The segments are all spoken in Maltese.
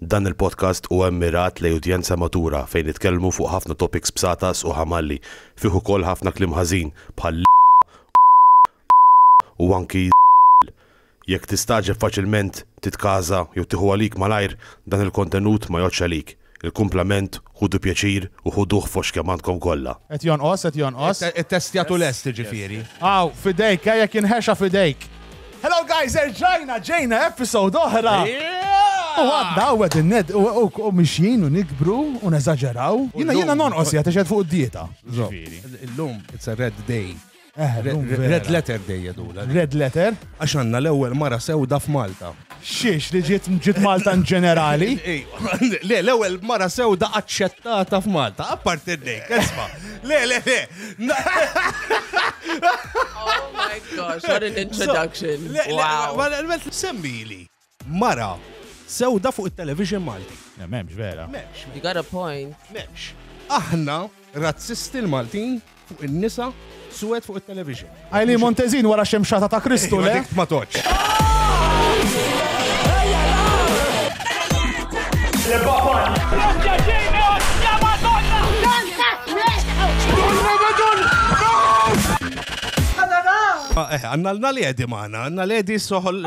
Dan il-podcast huwa mmirat lejn udjenza matura fejn nitkellmu fuq ħafna topics b'satas u ħamalli, fih ukoll ħafna kliem ħażin bħal l-, u anki l-. Jekk tistagħġeb faċilment, titkaża jew tieħu għalik malajr, dan il-kontenut ma jgħoddx għalik. Il-kumplament Ħudu pjaċir u ħuduh fost kemm għandkom kollha. Qed jonqos, qed jonqos. Ittestjat u lest jiġifieri. Hawn, f'idejk, eh, jekk jinħexa f'idejk. Hello guys, erġajna, ġejna episode oħra! U għadna u għedin ned u mixjin u nikbru u neżagġeraw. Jina jina nonqos jgħat xed fuq d-dieta. Ġifiri. Illum, it's a red day. Eh, llum vera. Red letter dejja dula. Red letter? Għax għandna l-ewwel mara sewda f'Malta. Xiex li ġiet ġiet Malta in ġenerali. Le, l-ewwel mara sewda aċċettata f'Malta, apparti d-dejk, isma. Le, le, le. Oh my gosh, what an introduction. Wow. Għal-met semmili. Mara sewda fuq it-television Malti. Le m'hemmx vera. M'hemmx. You got a point. M'hemmx. Aħna razzisti l-Maltin fuq in-nisa suwed fuq it-television. Eileen Montezin wara x-xemxata ta' Kristu, le? Dik ma tgħoddx. Għanna l-naledi maħna, l-naledi soħol.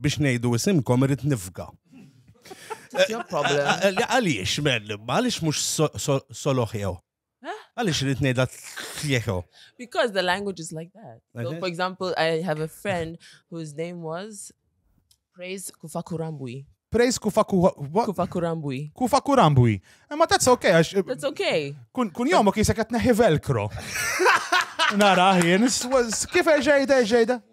biex ngħidu isimkom irid nifga. Għaliex, men, għaliex mhux soloħew? Għaliex irid ngħidha tlieħew? Because the language is like that. So, for example, I have a friend whose name was Praise Kufakurambui. Praise Kufakurambui. Kufakurambui. Ma that's okay. That's okay. Kun jomok jisek għatneħi velkro. Nara, jien, kif eġejda, eġejda?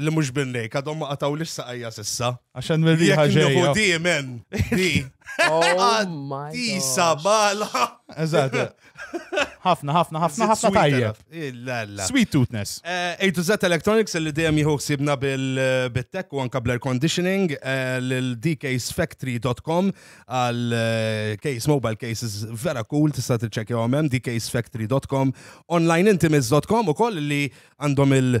Li mhux bin-nejk, għadhom ma qatgħulix saqajja s'issa. Għax hemm ir-riħa ġejja. Jekk nieħu di men, di. Tisa oh bala. Eżatt. Ħafna, ħafna, ħafna, ħafna tajjeb. Sweet toothness. Eh, A to Z Electronics li dejjem jieħu ħsibna bil-tech u anka bl-air conditioning eh, l-dcasefactory.com għal eh, case mobile cases vera cool tista' tiċċekkjahom hemm dcasefactory.com onlineintimis.com ukoll li għandhom il-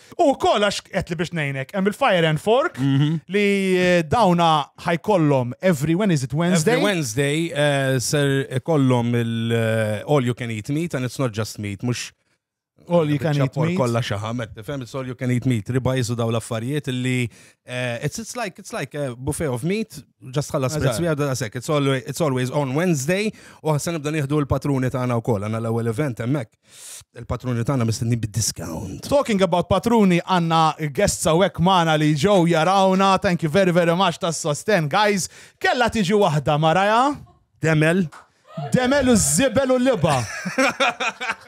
U wkoll għax qed li biex ngħinek, hemm il-Fire and Fork mhm. li eh, dawna ħajkollhom every when is it Wednesday? Every Wednesday eh, ser ikollhom il-all eh, you can eat meat and it's not just meat, mhux All you can eat meat. Kolla xaħamet, fem, it's all you can eat meat. Riba jizu daw l-affarijiet li, it's, it's like, it's like a buffet of meat, just ħalla spritz we għadda sek, it's always on Wednesday, u ħassan nibda nieħdu l-patruni ta' għana u koll, għana l-ewel event emmek. Il-patruni tagħna mistenni bid-discount. Talking about patruni għanna guests hawnhekk magħna li ġew jarawna. Thank you very very much tas-sosten guys. Kella tiġi waħda maraja. Demel. Demel u żibel u liba.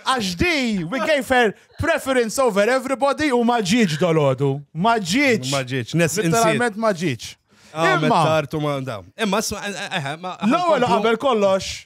Għax di, we gave her preference over everybody u ma ġiġ dolodu. Ma ġiġ. Ma ġiġ. Literalment ma ġiġ. Ah, Imma. Imma, eh, eh, eh, l-ewwel qabel kollox,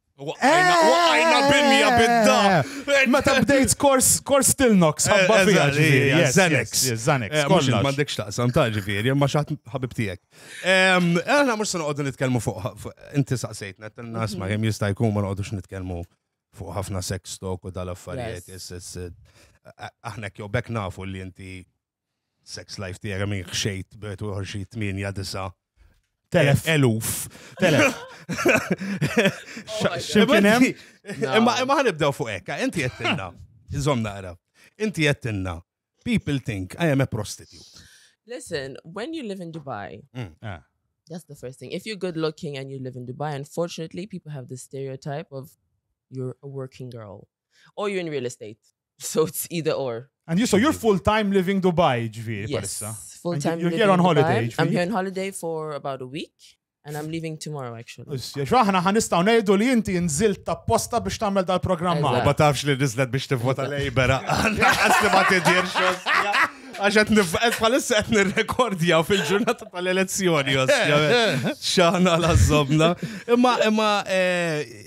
Waqajna, eh! waqajna bimja bidda. Eh! Meta bdejt kors, kors Tilnox, eh, ħabba fija ġifiri. Zanex. Zanex. Mux mandek xtaqsam ta' ġifiri, ma xaħt ħabib tijek. Għana mux sanu għoddu nitkelmu fuq, inti saqsejtna, t-tanna asma jem jista' jkun ma għoddu nitkelmu fuq ħafna sex talk u dal-affarijiet. Aħna kjo bek nafu li inti Sex life tiegħek għam xejt b'et u xi 8-9 Telef. Eluf. Telef. Ximkinem? Imma imma ħanibdew fuq hekk, inti jettinna. Iżom naqra. Inti jettinna. People think I am a prostitute. Listen, when you live in Dubai, mm. ah. that's the first thing. If you're good looking and you live in Dubai, unfortunately, people have this stereotype of you're a working girl. Or you're in real estate. So it's either or. And you, so you're full time living Dubai, ġviri, yes, parissa. Full time. You're here on holiday, ġviri. I'm here on holiday for about a week. And I'm leaving tomorrow, actually. Issja, xaħna ħanistaw nejdu li inti nżilt ta' posta biex tamel dal-programm ma. Ma tafx li nizlet biex tivvota lejbera. Għasli ma tidirx. Għaxet nifqet bħalissa qed nirrekordja fil-ġurnata tal-elezzjoni, xaħna la zobna. Imma, imma, eh,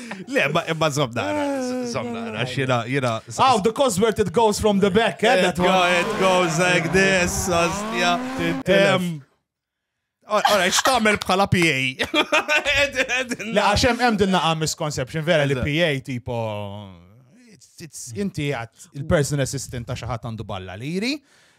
Le, ma imma zomna, zomna, xina, jina. How the Cosworth it goes from the back, eh? That one. It goes like this, ostja. Ora, xtamel bħala PA. Le, għaxem hemm din naqa misconception, vera li PA tipo. Inti għat il-personal assistant ta' xaħat għandu balla liri.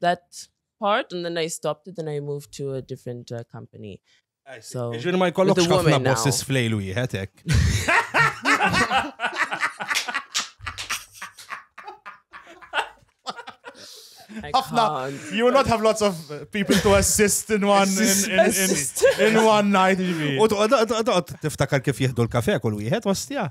that part and then I stopped it and I moved to a different uh, company. So, Ġin ma jkollokx ħafna bosses flejl wieħed hekk. ħafna you will not have lots of people to assist in one in, in, in, in one night. U toqgħod tiftakar kif jieħdu l-kafe kull wieħed ostja.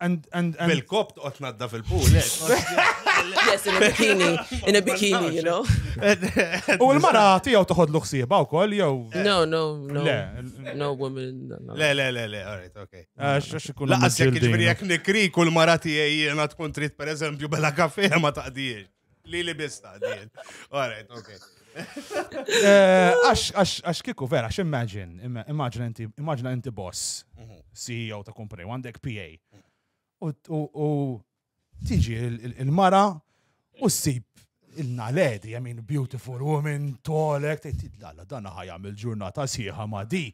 And, and, and... Bil-kop toqgħod tnadda fil-pool. Eh. Yes, in a bikini, in a bikini, you know. U l-mara tiegħu toħod l-ħsieba wkoll jew. No, no, no. Le, no woman. Le, le, le, le, all right, okay. Ah, Laqas jekk ġifieri jekk nikri kull mara tiegħi jiena tkun trid pereżempju bella kafe ma taqdiex. Li li bista, din. Alright, ok. Eh, għax kiku vera, għax imagine, imagine inti boss, mhm. CEO ta' kumpani, għandek PA. U tiġi il-mara u s-sib il-naledi, I mean, beautiful woman, tolek, tejtid lalla, dan ħajam il-ġurnata siħa ma di.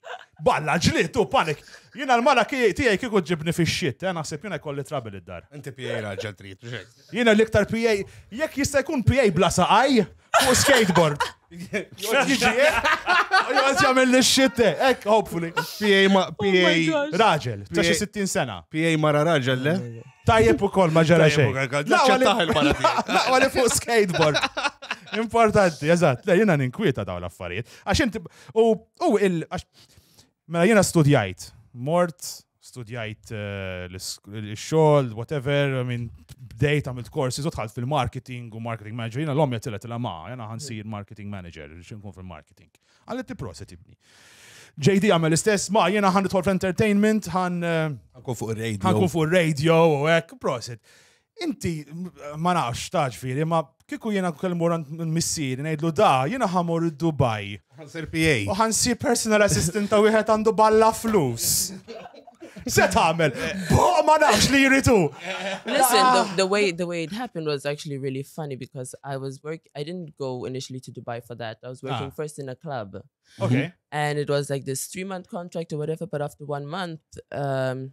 Balla ġlitu, panik. Jina l-mara tijaj kiku ġibni fi xit, eh, naħseb jina kolli trabil id-dar. Inti pijaj raġel trit, Jiena l-iktar PA, jekk jista' jkun PA bla saqaj, fuq skateboard. Jgħod jagħmel li xitte, ek, hopefully. PA oh raġel, ta' xi 60 sena. PA mara raġel, le? Tajjeb ukoll ma ġara xejn. Laqwa li fuq skateboard. Importanti, eżatt, le jiena ninkwieta dawn l-affarijiet. Għax inti u il Mela jiena studjajt, mort, studjajt eh, l-xogħol, whatever, minn bdejt għamilt korsi, zotħalt fil-marketing u marketing manager, jiena l-omja tillet il ma, jiena ħansir mm. marketing manager, xinkun fil-marketing. Għallet proset ibni. JD għamel istess, ma jiena ħan nidħol fl-entertainment, ħan. Eh, ħankun fuq il-radio. Ħankun fuq il-radio u hekk, proset. Inti, ma nafx, taġfiri, ma kiku jena kelmu rant missieri, nejdlu da, jena ħamur id-Dubaj. Għansir PA. U ħansir personal assistant ta' wieħed għandu balla flus. Se tagħmel, boq ma nafx li jritu. Listen, the, ah. the way the way it happened was actually really funny because I was work I didn't go initially to Dubai for that. I was working ah. first in a club. Okay. And it was like this three month contract or whatever, but after one month, um,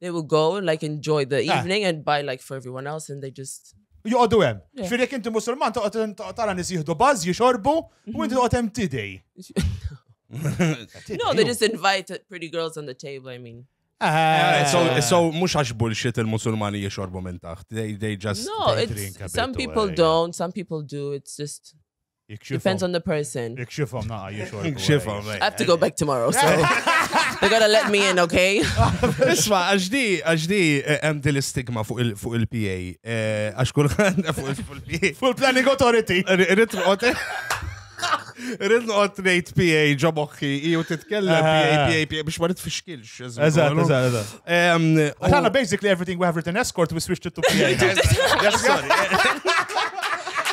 They will go and like enjoy the ah. evening and buy like for everyone else and they just Joqodu hemm. Fir jekk inti musulman toqgħod tara nies jieħdu bażż, jixorbu, u mhm. inti toqgħod hemm tidej. No, they just invite pretty girls on the table, I mean. Ah. Eh, so, mux għax bullshit il-musulmani jiexorbu minn taħt. They, they just no, they drink a bit. Some people away, don't, some people do. It's just Depends on the person. Ikxifhom naqa jixor. Ikxifhom. I have to go back tomorrow, so they're gonna let me in, okay? Isma, għax di, għax di, eh, hemm din l-istigma fuq il-PA. Eh, għax kulħadd fuq il-PA. Fuq il-Planning Authority. Irrid noqgħod. Irrid noqgħod ngħid PA ġo moħħi, iju titkellem PA, PA, PA biex ma nitfixkilx. Eżatt, eżatt, eżatt. Għana basically everything we have written escort, we switched it to PA.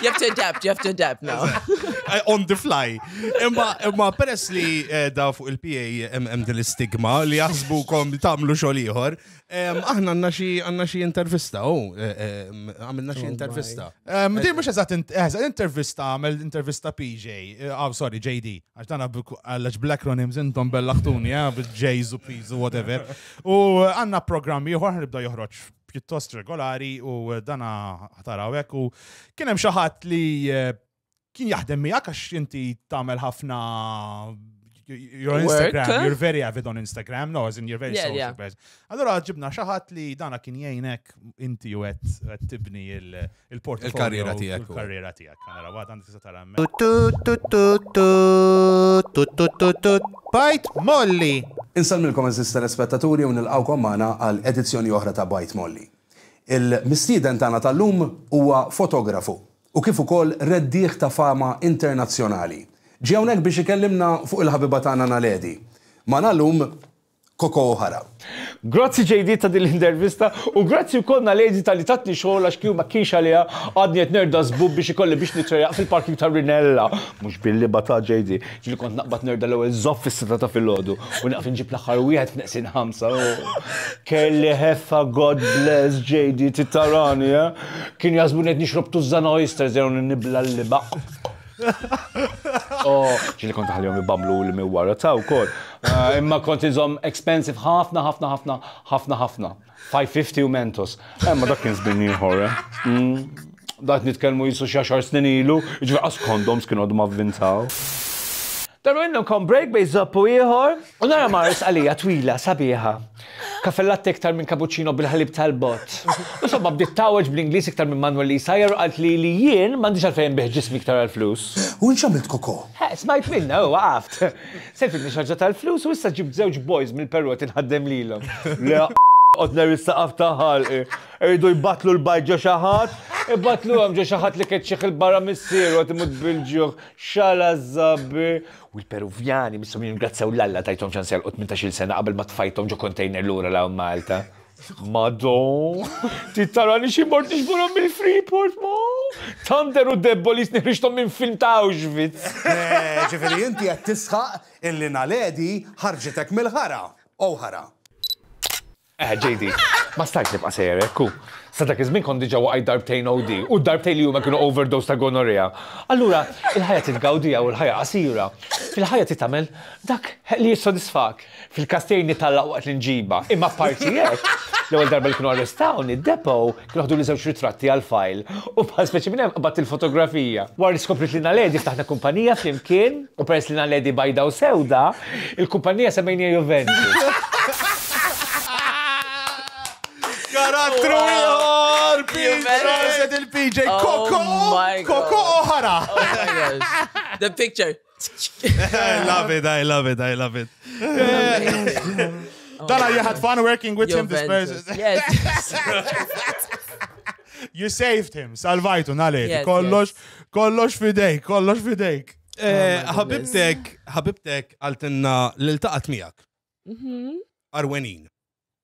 You have to adapt, you have to adapt now. Eh, on the fly. Imma, imma peress li eh, da fuq il-PA hemm din l-istigma li jaħsbu kom tagħmlu xogħol ieħor, aħna għandna xi għandna xi intervista u oh, eh, għamilna xi oh intervista. Din mhux eżatt intervista għamel intervista PJ, ah, sorry, JD. Għax dan għallax bl-acronyms intom bellaħtuni, eh, bil-J's u P's u whatever. U għanna programmi uħor nibda joħroġ pjuttost regolari u dana ħatarawek u kienem xaħat li eh, kien jaħdem miegħek għax inti tagħmel ħafna You're on Instagram, you're very avid on Instagram, no, as in you're very yeah, social yeah. person. Allora ġibna xaħat li dana kien jgħinek inti u għet tibni Il-karriera tiegħek. Il-karriera tiegħek. Nara waħda għandi tista' tara Bajt Molly! Insellmilkom eżisti l-ispettaturi u nilqgħukom magħna għal edizzjoni oħra ta' Bajt Molly. Il-mistieden tagħna tal-lum huwa fotografu u kif ukoll reddieħ ta' fama internazzjonali. Ġie hawnhekk biex ikellimna fuq il-ħabiba tagħna Naledi. Magħna llum Koko O'Hara. Grazzi JD ta' din l-intervista u grazzi wkoll Naledi talli tatni xogħol għax kieku ma kienx għaliha għadni qed nerda żbub biex ikolli biex nitrejaq fil-parking ta' Rinella. Mhux billi batha JD. Ġieli kont naqbad nerda l-ewwel żopp fis-sitta ta' filgħodu u nieqaf inġib l-aħħar wieħed f'neqsin ħamsa. Kelli ħeffa God bless JD trid tarani eh. Kienu jaħsbuni qed nixrob Tuzzana oysters jew nibla' l-libaq. Oh, ġili kont ħalihom jibablu li mi wara ta' wkoll. Ah, imma kont iżom expensive ħafna, ħafna, ħafna, ħafna, ħafna. 550 u Mentos. Imma dak kien żmien ieħor, eh? Mm. Dak nitkellmu jisu xi xar snin ilu, ġifieri qas kondoms kienu għadhom avvintaw. Dan minnhom kon break bej żopp u ieħor. U nara Mars għalija twila sabiħa. Caffè latte iktar minn cappuccino bil-ħalib tal-bott. Insomma, bdiet tgħawweġ bl-Ingliż iktar minn Manuel li jsajjar u qalt li li jien m'għandix għalfejn inbigħ ġismi iktar għall-flus. U int x'għamilt Coco? Ħa, smajt minnha u waqaft. Servitni xi ħaġa tal-flus u issa ġibt żewġ boys mill-Perù qed inħaddem lilhom. Le a qod ngħerri s-saqaf ta' ħalqi. Iridu jbattlu l-bajd ġo xi ħadd? Ibattluhom ġo xi ħadd li keċċieħ 'il barra missieru qed imut bil-ġuħ. X'għala żżabbi! U l-Peruvjani mistgħu jirringrazzjaw 'l Alla tajthom ċans jagħlqu tmintax-il sena qabel ma tfajthom ġo kontejner lura 'l hawn Malta. Mado! Trid tarani xi mort niġborhom mill-Freeport, ma! Thunder u Debbolis neħriġthom minn film ta' Auschwitz! Ġifieri inti qed tisħaq illi Naledi ħarġitek mill-ħara. Ow ħara. Eħe JD, ma stajtx nibqa' sejjer hekk u. Sa dak iż-żmien kont diġà waqajt darbtejn OD u d-darbtejn li huma kienu overdose ta' gonorrhea. Allura, il-ħajja trid tgawdiha u l-ħajja qasira. Fil-ħajja trid tagħmel dak li jissodisfak. Fil-każ tiegħi nitgħallaq waqt l-inġiba. Imma apparti hekk, l-ewwel darba li kienu arrestawni, Depo Ħduli żewġ ritratti għall-fajl u bħal speċi minn hemm qabadt il-fotografija. Wara li skopriet li Naledi ftaħna kumpanija flimkien u peress li Naledi bajda u sewda, il-kumpanija semmejniha Juventus. Karattru ieħor! Juventus! Il-PJ Koko! Koko oħra! The picture. I love it, I love it, I love it. Dala, you had fun working with him this person. Yes. you saved him, salvajtu, nale, kollox, kollox fidejk, kollox fidejk. Eh, oh ħabibtek, ħabibtek għaltinna l-taqat miegħek. Mhm. Arwenin.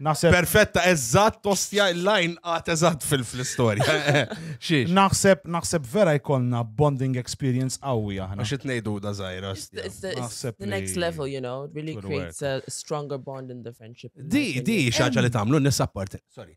Naħseb. Perfetta, eżatt, tostja il-lajn għat eżatt fil-istorja. Xiex. Naħseb, naħseb vera jkollna bonding experience qawwi aħna. Għax itnejdu da zaħira. The next level, you know, really creates a stronger bond in the friendship. Di, di, xaġa li tamlu, nissa parti. Sorry.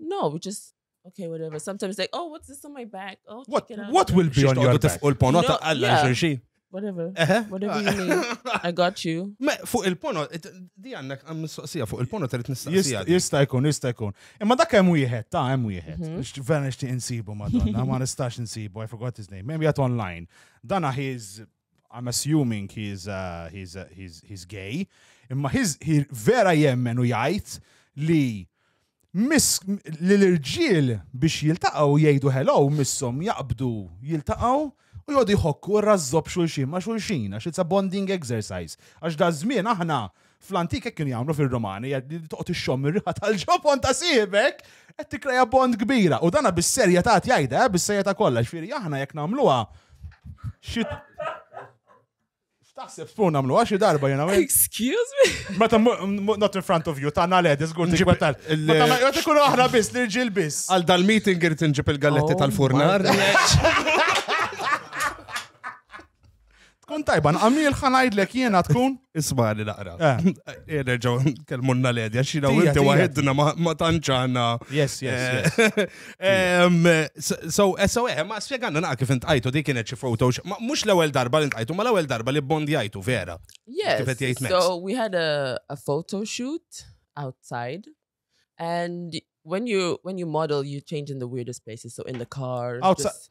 No, we just okay, whatever. Sometimes like, oh, what's this on my back? Oh, what, what will be on your back? Tifqu l-pono ta' għalla xurxin. Whatever. Whatever you need. I got you. Me, fuq il-pono, di għannak għam mistoqsija, fuq il-pono tal nistaqsija. Jista jkun, jista jkun. Imma dak hemm wieħed, ta' hemm wieħed. Mhm. Vera nixtieq insibu madonna, ma nistax insibu, I forgot his name. Hemm jgħat online. Dana he's I'm assuming he's, uh, he's, uh, he's, he's gay, imma he's, he vera jemmen u jgħid li miss li l-irġiel biex jiltaqgħu jgħidu hello missom jaqbdu jiltaqgħu u jgħodu jħokku r-razzob xulxin ma' xulxin għax it's a bonding exercise. Għax da żmien aħna Fl-antik hekk kienu jagħmlu fir-Romani, li toqgħod ixxomm ir-riħa tal-ġobon ta' sibek qed tikkreja bond kbira. U dana bis-serja ta' jgħidha, eh, bis-serja ta' kollha, ġifieri aħna jekk nagħmluha xi Taħseb spun namlu għaxi darba jena. Excuse me? Meta not in front of you, ta' naled, izgur ti gwetal. Meta ikunu aħna bis, l-irġil bis. Għal dal-meeting irrit nġib il-galletti oh tal-furnar. Tkun tajba, nqamil ħanajdlek jiena tkun. Ismani naqra. Eh. Eh, nerġaw kelmunna l-edja, xina u inti waħedna ma tanċana. Yes, yes. Eh. So, so, ma spieganna naqa kif intqajtu di kienet xi foto, mux l-ewel darba li intqajtu, ma l-ewel darba li bondjajtu, vera. Yes, so we had a, a photo shoot outside and when you when you model you change in the weirdest places so in the car outside just,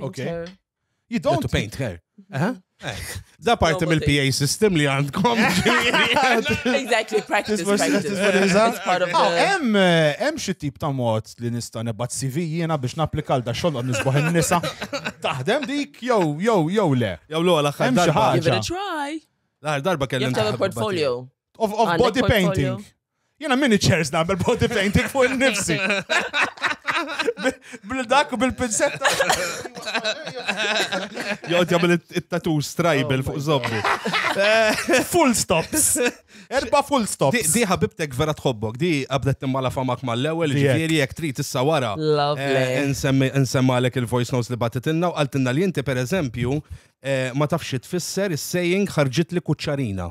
Ok. Painter. You Don't don't. paint her. Aha. Eh, Da parti Nobody. mill-PA system li għandkom. Exactly, practice, Tisma' xi- practice. tisma' nisa? It's part of Ah, the... hemm eh, hemm xi tip ta' mod li nista' nebgħat CV jiena biex napplikal da xogħol qod nisbaħ in-nisa. Taħdem dik jew jew jew le. Jew l-għala Hemm xi ħaġa. Give it a try. L-għar darba You kellem. have to have a portfolio. Of, of Għandek body portfolio. painting. Jena mini chairs nagħmel body painting fuq nifsi. Bil-dak u bil-pinsetta. Jgħod jagħmel it- it-tattoo strajbel Oh fuq my zobbu. Full stops. Erba full Di, stops. di ħabibtek vera tħobbok, di qabdet timmala famak mal-ewel, Di hekk. ġifieri jekk trid issa wara. Lovely. eh, nsemmi- Nsemmalek il-voice notes li batitilna u qaltilna li inti per eżempju eh, ma tafx xi tfisser is-saying ħarġit li kuċċarina.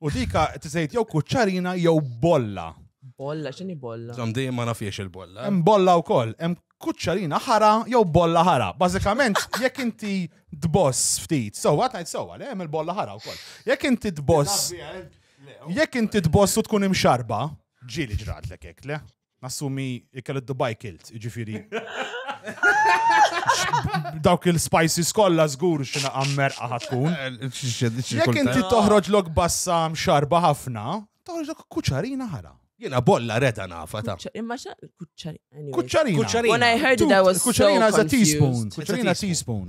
U dika tisejt jew kuċċarina jew bolla. Bolla, xini bolla? Zom di ma nafiex il-bolla. Hemm bolla wkoll, hemm kuċċarina ħara jew bolla ħara. Bażikament, jekk inti tboss ftit, sewwa tajt sewwa, le hemm il-bolla ħara wkoll. Jekk inti tboss, jekk inti tboss u tkun imxarba, ġieli ġratlek hekk, le? Nassumi ikel id-Dubai kilt, ġifiri. Dawk il-spices kollha żgur xina għammer ħatkun. Jekk inti toħroġ lok bassam xarba ħafna, toħroġ lok kuċarina ħara. Jena bolla reda nafa ta' Imma xa kuċċarina. Kuċċarina. When I heard it, I was so Kuċċarina is a confused. teaspoon. Kuċċarina teaspoon.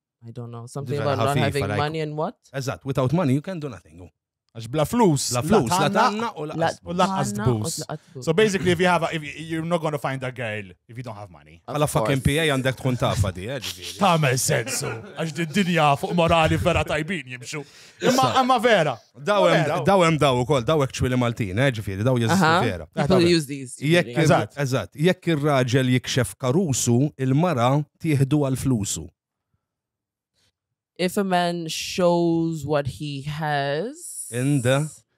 I don't know, something about not having money and what? Eżatt, without money you can do nothing. Għax bla flus, la flus, la tanna u laqqas tbus. So basically, if you have, a, if you're not going to find a girl if you don't have money. Għala fucking PA għandek tkun tafa di, eh, ġviri. Tamel sensu, għax di dinja fuq morali vera tajbin jimxu. Imma imma vera. Daw hemm daw hemm daw ukoll daw actually Maltin, eh, ġifieri daw jeżistu ah, vera. Jekk eżatt, jekk ir-raġel jikxef karusu, il-mara tieħdu għal flusu. If a man shows what he has in the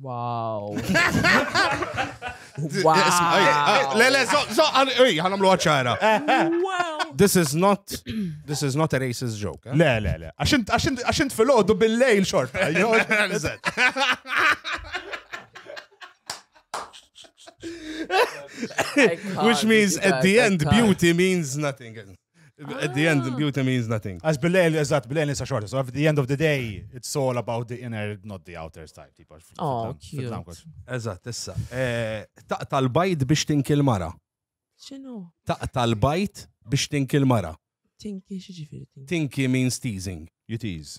Wow. wow. Le, le, so, għanamlu għacċara. This is not, this is not a racist joke. Eh? Le, le, le. Għaxint fil-ħodu bil-lejl xorta. Which means at the end beauty means nothing. At the end, beauty means nothing. Għax bil-lejl, eżat, bil-lejl nisa xorta. So at the end of the day, it's all about the inner, not the outer type. Tipo, oh, cute. Eżat, issa. Eh, taqta l-bajt biex tinkil mara. Xinu? Taqta l-bajt biex tinkil mara. Tinki xieġifiri. Tinki means teasing. You tease.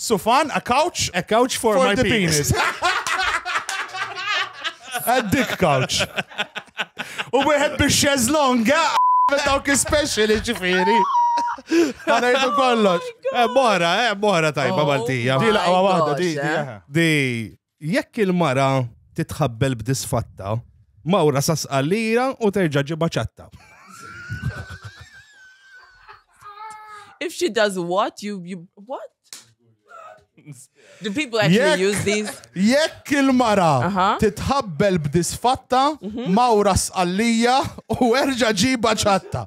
Sufan, a couch. A couch for, for my penis. a dick couch. U wieħed biex xeżlonga dawk speciali ġifieri. Għana jiddu kollox. Oh eh, mora, eh, mora tajba oh Maltija. Di laqwa wahda, di. Di. Eh. Jekk il-mara titħabbel b'disfatta, mawra sa sqallira u terġa' ġibha ċatta. If she does what, you, you what? Do people actually Jekk- use these? Jekk il-mara Aha. titħabbel b'disfatta, Mhm. mawra sqallija u erġa' ġiba ċatta.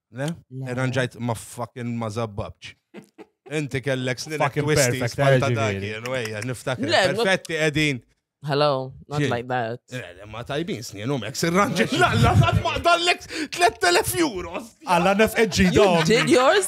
Le? Irranġajt ma fucking ma zabbabċ. Inti kellek snin Fucking twisti perfect, spalta eh, dak ġifieri. jien, wejja, niftakar. Le, ma- Perfetti qegħdin. Hello, not Xie? like that. Eh, le, Ma tajbin snin u mek sirranġi. La, la, la, ma dallek 3000 euro. Alla nefqed ġidom. Did yours?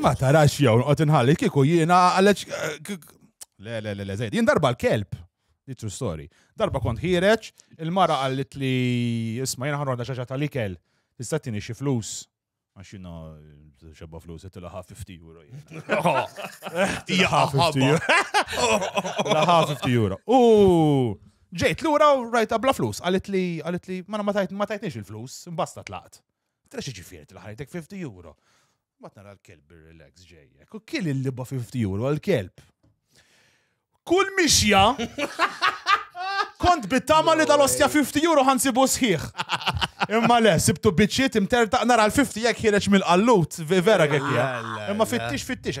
Ma tarax jew noqgħod inħalli kieku jiena għalex le le le żejt. Jien darba l-kelb. True story. Darba kont ħireċ, il-mara qallit li isma' jiena ħanroda xaġa tal-ikel. Tista' tieni xi flus. Għax jiena xebba flus qed ilaħa 50 euro. Ilaħa 50 euro. Ilaħa 50 euro. U ġejt lura u rajta bla flus. Qalet li qalet li ma ma tajtniex il-flus, imbasta tlaqt. Tara xi ġifieri tilħajtek 50 euro. Mbagħad nara l-kelb ir-relax ġejjek. U kien il-liba 50 euro għall-kelb. Kull mixja kont bittama li dal-ostja 50 euro ħansibu sħiħ. Imma le, sibtu biċċiet imtertaq nara l-50 jekk ħireġ mill-qallut, vera kekk. Imma fittix fittix.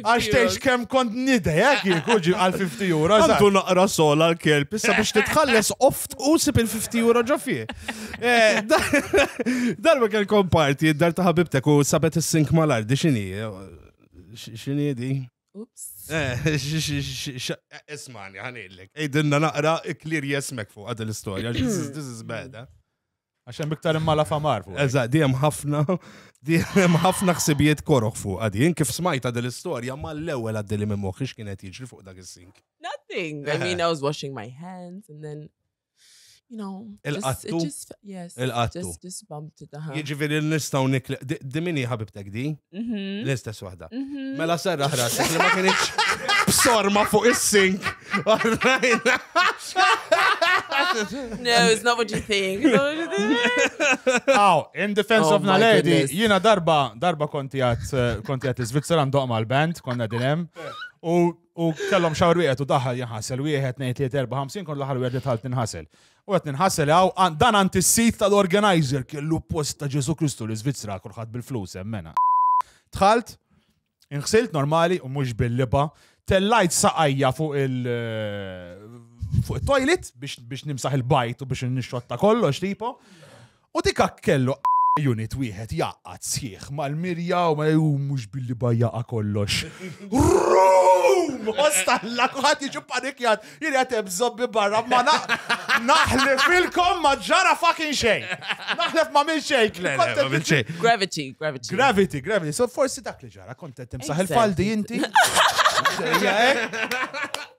Għax tgħix kemm kont nidej, hekk jikuġi għal 50 euro. Għandu naqra sol għal kelb issa biex titħalles oft u sib il-50 euro ġo fih. Eh, Darba kell komparti, dar ta' ħabibtek u sabet is-sink mal-ardi xini. Xini di? Ups. Eh, Ismani, ħanillek. Ejdinna naqra iklir jesmek fuq għad l-istoria. This is bad, eh? Għax hemm iktar imma la famar fuq. Eżatt, di hemm ħafna, di hemm ħafna ħsibijiet koroħ fuq għadi. Jien kif smajta din l-istorja ma l-ewwel għaddi li minn moħħi x'kien qed jiġri fuq dak is-sink. Nothing. I mean, I was washing my hands and then you know, il-qattu. Yes, il-qattu. Just, just bumped it. Jiġifieri nistgħu nikli. Dimini ħabibtek di? Mhm. L-istess waħda. Mhm. Mela serra ħrasek li ma kienx b'sorma fuq is-sink. Għarrajna. No, it's not what you think. It's not what you think. Aw, in defense Oh of my Naledi, goodness. jina darba, darba konti għat, eh, konti għat Svizzera ndoq mal band konna dinem, u, u kellom xawr wieħed u daħal jinħasel, wieħed, nejt, tliet, erba, ħamsin, kon l-ħar wieħed li tħalt ninħasel. U qed ninħass li hawn għan- dan għand is-sit tal-organizer kellu post ta' Ġesù Kristu l-Iżvizzera kulħadd bil-flus hemmena. Dħalt, inħsilt normali u mhux bil-liba, tellajt saqajja fuq il fuq it-toilet biex biex nimsaħ il-bajt u biex nixxotta kollox tipo. U dik hekk kellu unit wieħed jgħaqqad sħiħ mal-mirja u mal u mhux billi bajjaqa' kollox. Room! Osta lla kulħadd jiġi panikjat, jien qed hemm żobbi barra ma naħlef ilkom ma ġara fucking xejn. Naħlef ma minn xejn. Le, le, ma minn xejn. Gravity, gravity. Gravity, gravity. So forsi dak li ġara kont qed timsaħ il-faldi inti. Ġejja hekk.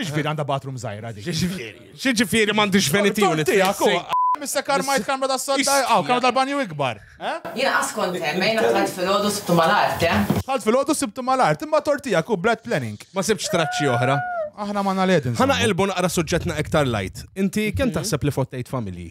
X'ġifieri għandha bathroom żgħira dik? X'ġifieri? X'ġifieri m'għandix venitiju li tiegħek? Missa karmajt kamra ta' sodda, għaw kamra tal-banju ikbar. Jien qas kont hemm, jien dħalt filgħodu sibtu mal-art, eh? Dħalt filgħodu sibtu mal-art, imma tort tiegħek hu b'bad planning. Ma sibtx traċċi oħra. Aħna ma nagħled inżommu. Ħa naqilbu naqra suġġettna iktar light. Inti kemm taħseb li fottejt familji?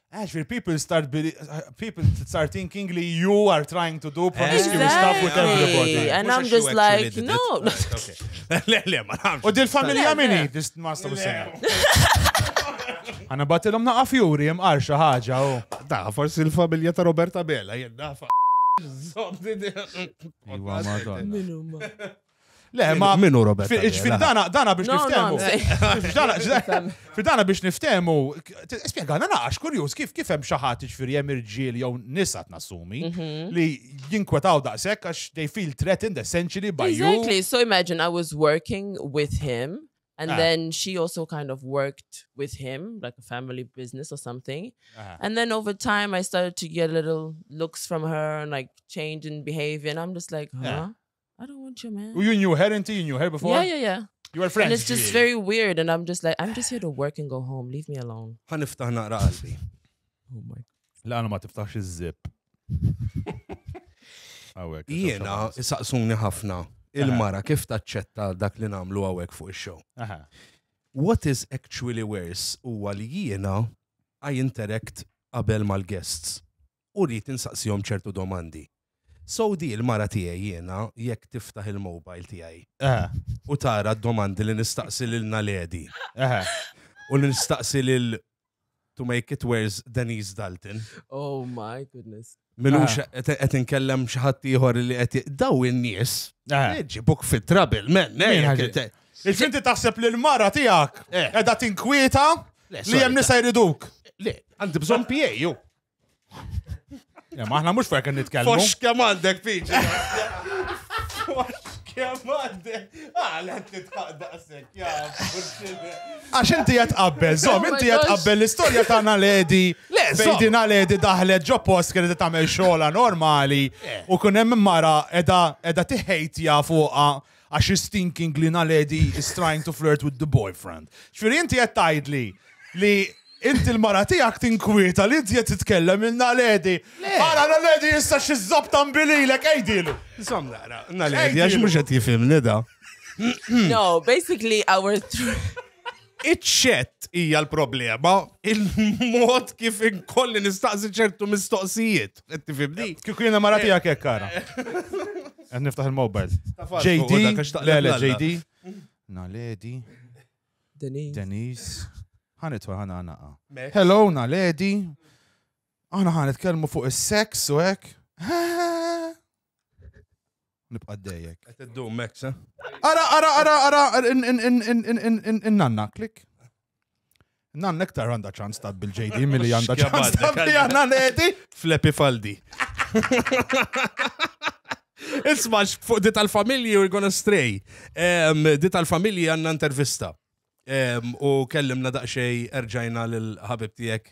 Actually, people start people start thinking li you are trying to do promiscuous exactly. stuff with everybody. And I'm just like, no. U dil familja minni, this must have said. Għana batilom naqa fjuri, jemqar xaħġa. Da, forsi l-familja ta' Roberta Bella, jenna fa. Zobdi. Minu ma. Le, ma minu Robert. Ġifiri dana, dana biex niftemu. Fi dana biex niftemu, spiegħana naqax kurjus kif kif hemm xaħat ġifiri hemm irġiel jew nisat nasumi mhm. li jinkwetaw daqshekk għax they feel threatened essentially by you. Exactly, so imagine I was working with him and ah. then she also kind of worked with him like a family business or something ah. and then over time i started to get little looks from her and like change in behavior and i'm just like huh yeah. I don't want you, man. U you knew her inti, you knew her before? Yeah, yeah, yeah. You were friends. And it's just very weird and I'm just like, I'm just here to work and go home, leave me alone. Ħan niftaħ naqra qalbi. Oh my. La, ma tiftaħx iż-zip. Għawek. Jiena, saqsuni ħafna il-mara kif taċċetta dak li namlu għawek fuq il-show. What is actually worse huwa li jiena I interact qabel mal-guests. u rrid insaqsihom ċertu domandi. So di l-mara tiegħi jiena jekk tiftaħ il-mobile tiegħi u tara d-domandi li nistaqsi lil Naledi u li nistaqsi lil to make it worse Denise Dalton. Oh my goodness. Minux qed inkellem xi ħadd ieħor li qed daw in-nies ġibuk fit trouble men. Il-finti taħseb li l-mara tiegħek qiegħda tinkwieta li hemm nisa jriduk. Le, għandi bżonn PA ju. Ja, ma aħna mhux fejn kien nitkellmu. Fox kemm għandek piġi. Kemm għandek. Ah, la titħaq daqsek, ja, Għax inti qed qabbel, żomm, inti qed qabbel l-istorja tagħna ledi. Le, Fejdina ledi daħlet ġo post kienet tagħmel xogħla normali u kun hemm mara edha edha tiħejtja fuqha Għax she's thinking li Naledi is trying to flirt with the boyfriend. Ġifieri inti qed tgħidli li inti l-mara tiegħek tinkwieta li inti qed titkellem il Naledi. Ara Naledi issa xi żabta mbililek għidilu. Insomma, naqra, Naledi għax mhux qed jifhimni da. No, basically our Iċ-ċett hija l-problema, il-mod kif inkolli nistaqsi ċertu mistoqsijiet. Qed tifhimni? Kieku jiena mara tiegħek hekk ara. Qed niftaħ il-mobile. JD, le le JD. Naledi. Denise. Denise. Ħanitwa ħana ħanaqa. Hello, Naledi. Aħna ħanitkellmu fuq is-sex u hekk. Nibqa' dejjek. Qed iddum Max, eh? Ara, ara, ara, ara, in-nanna, klik. Nanna iktar għandha ċans ta' bil-JD milli għandha ċans ta' bil-Janna Ledi. Flepi faldi. Isma' fuq di tal-familji we're gonna stray. Di tal-familji għandna intervista. U kellimna daqsxej erġajna lil ħabib tiegħek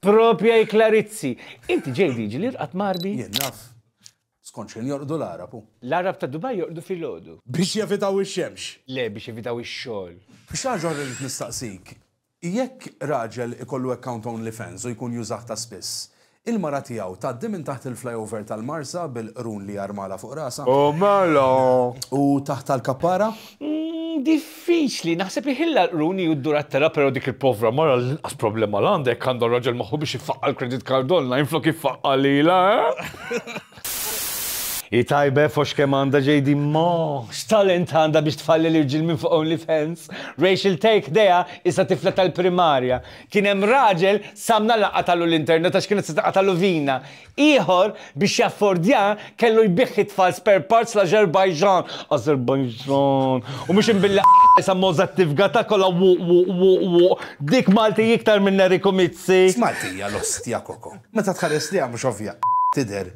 Propja hi Clarizzi. Inti ġej diġli rqadt m'Għarbi? Jien naf. Skont xejn jorqdu l-Għarab hu. L-Għarab ta' Dubaj jorqdu filgħodu. Biex jevitaw ix-xemx. Le, biex jevitaw ix-xogħol. Xi ħaġa oħra rrid nistaqsik. Jekk raġel ikollu account OnlyFans u jkun jużah ta' spiss, il-mara tiegħu tgħaddi minn taħt il-flyover tal-Marsa bil-qrun li armalha fuq rasha? U mela! U taħt tal-kappara? Mmm diffiċli, naħseb li ħilla l-qrun hi u ddur għat-telgħa però dik il-povra mara l-inqas problema l-għandha jekk għandha raġel magħha biex iffaqqa' l-credit card online flok iffaqqa' lilha, eh? Hi tajba eh foxx kemm għandha JD imma x'talent għandha biex tfalli l-irġiel minn fuq OnlyFans? Rachel Tay ħdejha issa tifla tal-primarja. Kien hemm raġel samna laqathalu l-internet għax kienet se taqathalu vina. Ieħor, biex jaffordja, kellu jbigħ it-tfal spare parts l-Ażerbajġan, Azerbaijan, u mhux imbilli sa Mozart tifga ta' kollha wuq wuq wuq wuq, dik Malti iktar minn Eriku Mizzi. X'Malti hija l-ostja koko? Meta tħares lejha mhux ovvja tidher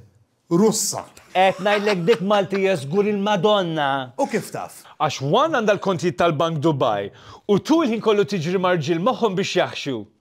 Russa. Qed ngħidlek dik Malti hija żgur il-Madonna. U kif taf? Għax one għandha l-kontijiet tal-bank Dubai u two il-ħin kollu tiġri ma' rġiel moħħhom biex jaħxu.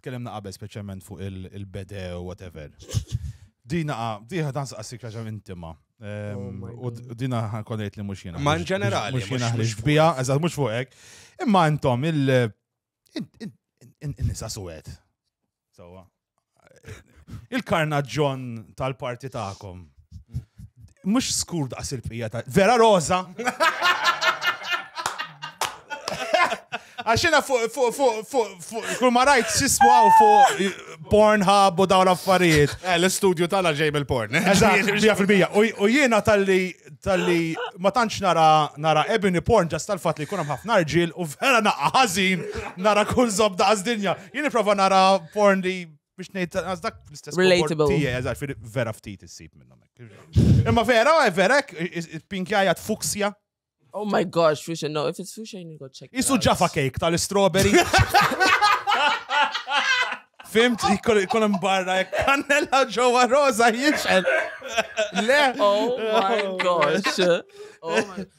tkellimna qabel speċjalment fuq il-bede u whatever. Dina, diħa dan saqsik raġa intima. Ehm, oh u dina ħankonejt li mux jena. Ma in ġenerali. Mux jena ħliġ bija, eżat mux fuq ek. Imma intom il- nisa suwet. Sawa. Il-karnaġġon tal-parti ta'kom. Mux skur daqs il-pija ta' vera roza. Għaxina fuq, fuq, fuq, fuq, fuq, kull ma rajt sismu għaw fuq Pornhub u dawn affarijiet. Eh, l-studio tala ġej mill-porn. Eżatt, bija fil-bija. U jiena tal-li, tal-li, ma tantx nara, nara ebony porn ġas tal-fat li kunem ħafna rġil u vera naqqa ħazin nara kull zob daqs dinja. Jien prova nara porn li biex nejt għaz dak l-istess Relatable. Tijie, għaz, vera ftit issib minnom. Imma vera, eh, vera, eh, pinkjaja t-fuksja. Oh my gosh, fusion, no, if it's fusion, you go check. Isu ġafa cake tal-strawberry. Fimt, jkun hemm barra jekk kannella ġewwa roża jiġxel. Le. Oh my gosh. Oh my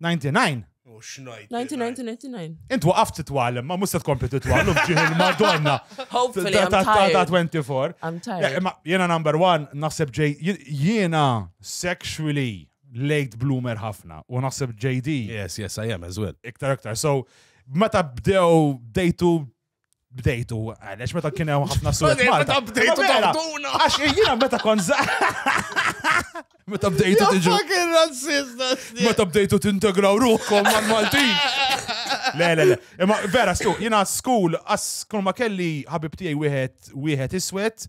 99. U xnajt. 1999. Int waqaft titwallem, ma mhux se tkompli titwallem ġieħ il-Madonna. Hopefully, Ta' I'm ta' ta' ta' tired. 24. I'm Le, tired. imma Jena number one, naħseb ġej, jien- jiena sexually late bloomer ħafna u naħseb JD Yes, yes, I am as well. iktar iktar. So, meta bdew dejtu bdejtu għalex meta kien hemm ħafna surat. Meta bdejtu mela, tawduna. Għax jiena meta kon Meta bdejtu tiġu. Fucking razzista. Meta bdejtu tintegraw ruħkom mal-Maltin. Le, le, le. Imma vera, stu, jiena school, as kull ma kelli ħabib tiegħi wieħed wieħed iswed,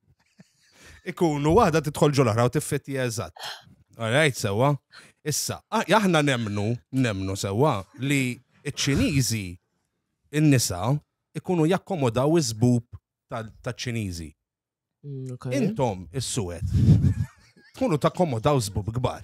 Ikunu waħda tidħol ġol oħra u tiffitti eżatt. Alright, sewa. Issa, aħna nemnu, nemnu sewa li ċ-Ċiniżi in-nisa ikunu jakkomodaw iż-żbub taċ-Ċiniżi. Mm, Intom is-suwed. Tkunu takkomodaw żbub kbar.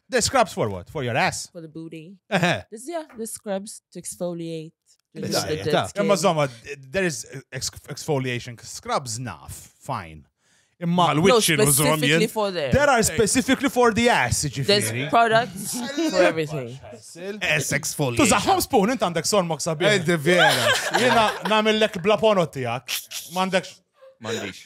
The scrubs for what? For your ass? For the booty. Uh-huh. This, yeah, the scrubs to exfoliate. Imma zoma, there is exfoliation scrubs naf, fine. Imma l-witch irrużom There are specifically for the ass, ġifiri. There's products for everything. Ass exfoliation. Tużaħħom spoon, int għandek sormok sabiħ. Ed vera. Jena namillek bla ponot tijak. Mandek. Mandix.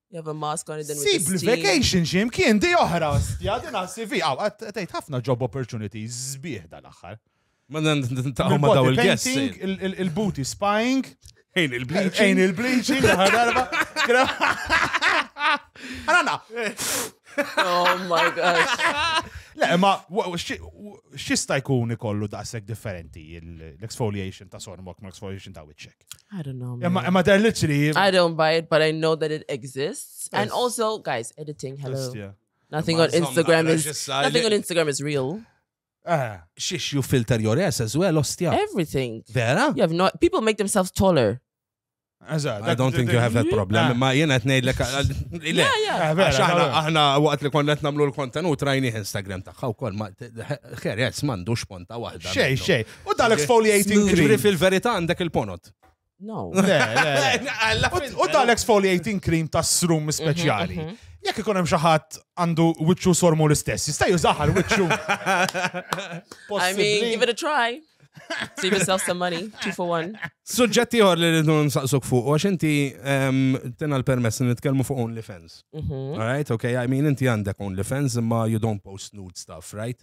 You have a mask on it then with Sib the steam. l-vacation xi mkien di oħra, stja din għas-CV. Aw, għat- tgħid ħafna job opportunities sbieħ dal-aħħar. Ma nintaqgħu ma daw Body il-guests. painting, il- il- Il-booty spying, Ejn il-bleach. ejn il-bleaching, l-aħħar darba. Għana, Oh my gosh. le, ma wa- wa- xi- wa- xista jkun ikollu daqshekk differenti l-exfoliation ta' sormok ma l-exfoliation ta' wiċċek. I don't know. Am I, am I there literally? I don't buy it, but I know that it exists. Yes. And also, guys, editing, hello. Just, yeah. Nothing on Instagram is nothing on Instagram is real. Uh, shish, you filter your ass as well, ostia. Everything. Vera? You have not. People make themselves taller. Eżatt. I don't think you have that problem. Ma jena t-nejdlek. Aħna, aħna, waqt li konna t-namlu l-kontenut, rajni Instagram taħħa u kol, ma, xer, jess, mandu xponta wahda. Xej, xej. U dan exfoliating cream. Ġifiri fil-verita għandek il-ponot. No. Le, le. U dan exfoliating cream ta' srum mhm, speċjali. Mhm. Jekk ikun hemm xi ħadd għandu wiċċu sormu l-istess, jista' jużaħal wiċċu. I mean, give it a try. Save yourself some money, two for one. Suġġett ieħor li rridu nsaqsuk fuq, għax inti ehm, tina l-permess li nitkellmu fuq OnlyFans. Mhm. Alright, okay, I mean inti għandek OnlyFans imma you don't post nude stuff, right?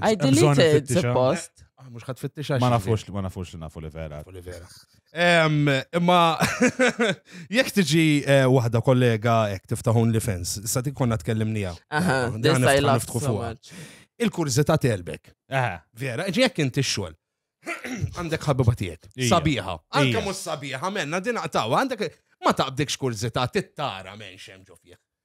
I deleted it, suppost. Ah, mux ħat fittix Ma nafux, ma nafux li nafu li vera. Li vera. Imma jek tiġi eh, wahda kollega jek tiftaħun li fens, sa ti konna tkellimnija. Il-kurzita telbek. Vera, jek inti xol. Għandek ħabiba tijek. Sabiħa. Għandek mus sabiħa, menna din għatawa, għandek ma taqbdikx kurzita, tittara men xem ġofieħ.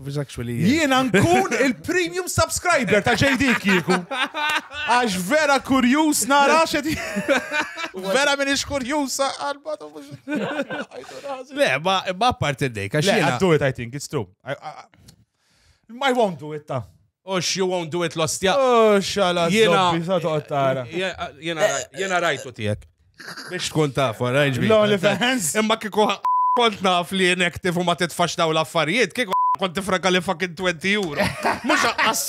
Jiena nkun il-premium subscriber ta' JD kieku. Għax vera kurjus nara xed. Vera minn ix kurjus għalba tu mux. Le, ma apparti d-dejka. Le, I do it, I think, it's true. I won't do it ta' Ux, you won't do it l-ostja. Ux, għala Jiena- zombi, sa toqgħod tara. Jena- jena- Jena rajtu tijek. Biex tkun taf, rajġ bi. L-only fans. Imma kiku kont naf li inactive u ma titfax daw l-affarijiet, kiku kont tifranka li fucking 20 euro. Mux għas...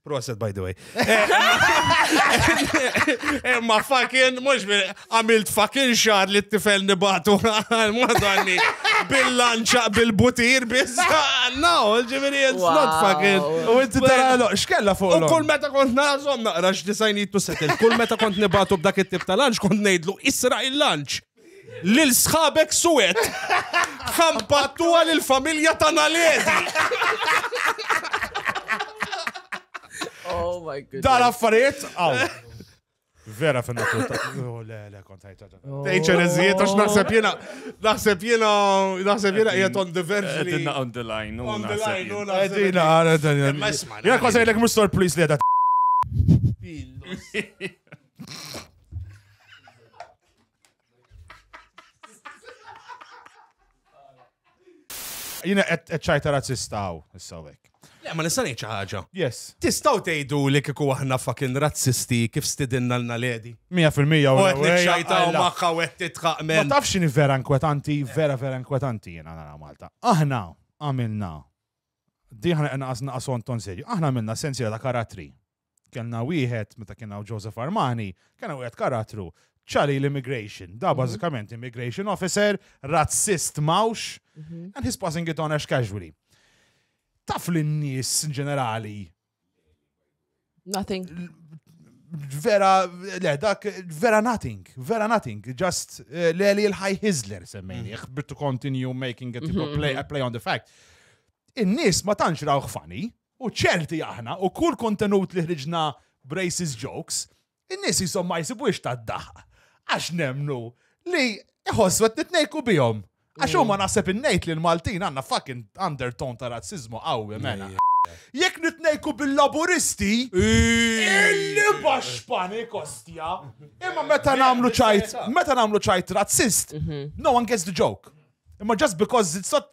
Proset, by the way. Emma fucking, mux għamilt fucking xar li t-tifel nibatu għal-madonni bil-lanċa, bil-butir, bizza. No, ġiviri, it's not fucking. U inti tara l xkella fuq. U kull meta kont nażom naqra x'disajnitu setel, kull meta kont nibatu b'dak it-tip tal-lanċ, kont nejdlu isra il-lanċ. Lil sħabek suwed. Ħambattuha lil familja ta' Naledi. Oh my god. Dar affarijiet għaw. Vera fin natur ta' oh, le le kont ħajta. Tejċer eżijiet għax naħseb jiena naħseb jiena naħseb jiena qiegħed on the verge li. Qedna on the line. On the line. Qedina għara dan. Jiena kważi jgħidlek mhux stor please li qiegħda. Jina qed ċajta razzista hawn issa hekk. Le, ma nista' ngħid xi ħaġa. Yes. Tistgħu tgħidu li kieku aħna fucking razzisti kif stidinna l naledi. 100% u qed niċċajtaw magħha u qed titħaq men. Ma tafx x'inhi vera inkwetanti, vera vera inkwetanti jiena nara Malta. Aħna għamilna diħna naqas naqas ton serju. Aħna għamilna sensiela ta' karattri. Kellna wieħed, meta kien hawn Joseph Armani, kellna wieħed karattru, ċali l-immigration, da mhm. bażikament immigration officer, razzist mawx, mhm. and he's passing it on as casually. Taf li n-nies ġenerali. Nothing. Vera, le, dak, vera nothing, vera nothing, just eh, le li l-ħaj Hizler semmejni, mhm. to continue making a, play, a play on the fact. In-nies ma tantx rawħ funny, u ċerti aħna u kull kontenut li ħriġna b'racist jokes, in-nies qishom ma jsibux tad-daħq għax nemmnu li iħossu qed nitnejku bihom. Għax huma mm. naħseb innejt li l-Maltin għandna fucking undertone ta' razzizmu qawwi mela. Jekk nitnejku bil-laburisti, illi bax pani kostja. Imma meta namlu ċajt, meta namlu ċajt razzist, mhm. no one gets the joke. Imma just because it's not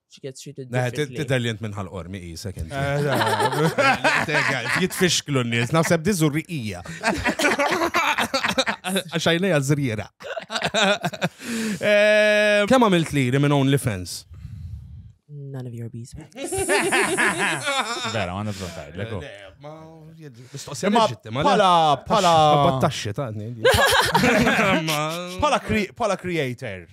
Tidher li jent minn ħal-qormi jisek inti. Jitfixklu n-nies, naħseb di zurriqija. Għaxajnija zrira. Eh, Kem għamilt li minn OnlyFans? None of your business. Vera, għanna bżon tajt, leko. Imma pala, pala. Battaxxi ta' Pala creator,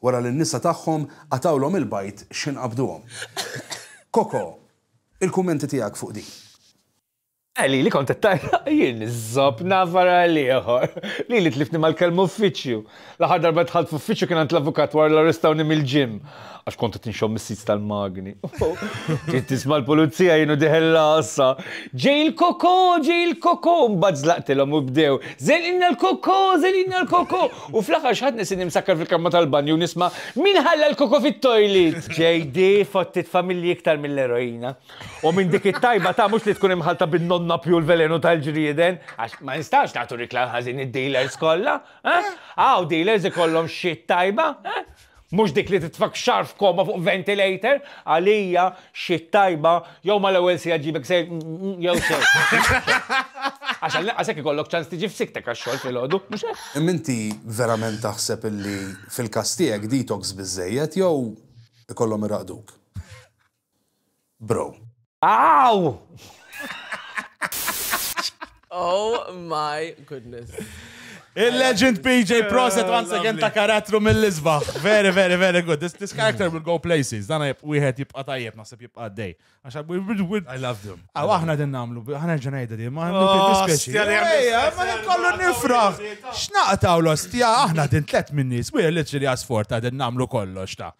Wara li n-nisa tagħhom qatgħulhom il-bajd x'ħin qabduhom. Coco, il-kummenti tiegħek fuq din? Eli, li kont qed tgħajjaq jien, iż-żopp nagħfar għal ieħor. Lili tliftni mal-kelma uffiċċju. L-aħħar darba dħalt f'uffiċċju kien għand l-avukat wara li arrestawni mill-gym għax kont qed inxomm is-sits tal-magni. Bdejt nisma' l-pulizija jien u dieħel l-għassa. Ġej il-Coco, ġej il-Coco! Mbagħad żlaqtilhom u bdew, Żenqilna l-Coco, żenqilna l-Coco! U fl-aħħar x'ħadt nisinni msakkar fil-kamra tal-banju u nisma' Min ħalla l-koko fit-toilet? JD, fottit familji iktar mill-eroina. U minn dik it-tajba ta' mhux li tkun imħallta bin-nonnapju u l-velenu tal-ġrieden, għax ma nistgħux nagħtu rikla ħażin id-dealers kollha, eh? Hawn dealers ikollhom shit tajba, eh? Mhux dik li titfgħek xahar f'koma fuq ventilator, għalija xi tajba jew mal-ewwel siegħa ġġibek sejr jew xejn. Għax għall-inqas hekk ikollok ċans tiġi f'siktek għax-xogħol filgħodu, mhux hekk? Imma inti verament taħseb illi fil-każ tiegħek detox biżżejjed jew ikollhom iraqduk? bro. Aww! Oh my goodness. Il-legend PJ Proset once again ta' karattru mill-isbaħ. Very, very, very good. This, this character will go places. Dana jib wieħed jibqa tajjeb, naħseb jibqa għaddej. Għaxa, I love them. Għaw, aħna din namlu, ħana ġenajda di, ma għandu dispieċi. Ejja, ma nkollu nifraħ. Xnaqtaw l-ostja, aħna din tlet minnis, we're literally asfort ta' din namlu kollox ta'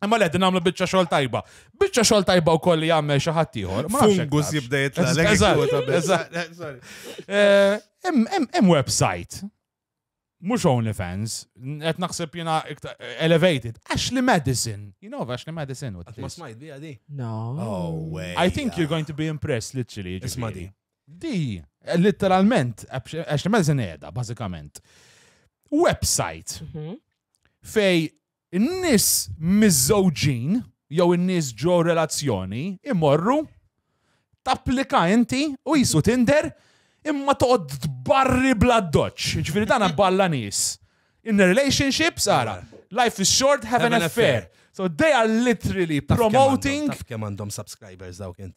Imma le din għamlu biċċa xogħol tajba. Biċċa xogħol tajba wkoll li jagħmel xi ħadd ieħor. Fungus jibda jitla' eh, Hemm website. Mhux OnlyFans, qed naħseb jiena elevated. Ashley Madison. You know Ashley Madison what Ma smajt biha di. No. Oh way. I think you're going to be impressed literally. Isma' di. Di, literalment, Ashley Madison qiegħda bażikament. Website mhm. fej In-nies miżżewġin jew in-nies ġo relazzjoni jmorru, tapplika inti u qisu Tinder imma toqgħod tbarri bl-addoċċ. Jiġifieri dan balla nies. In a relationship, ara, life is short, have an affair. So they are literally promoting. Taf kemm għandhom subscribers dawk int?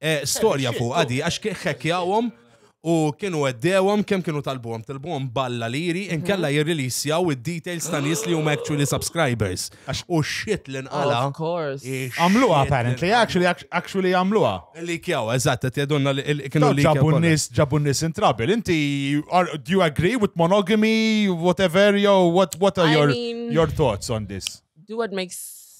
Eh, storja fuqha di, għax ħekjawhom u kienu għeddewhom kemm kienu talbuhom, talbuhom balla liri, mhm. inkella jirrilisjaw id-details ta' nies li huma actually subscribers. U shit li nqala. Of course. Għamluha apparently, actually, actually għamluha. Li kjaw, eżatt, qed jadunna li kienu li. Ġabu nis, ġabu nis in trouble. Inti, do you agree with monogamy, whatever, yo, what, what are your, your thoughts on this? Do what makes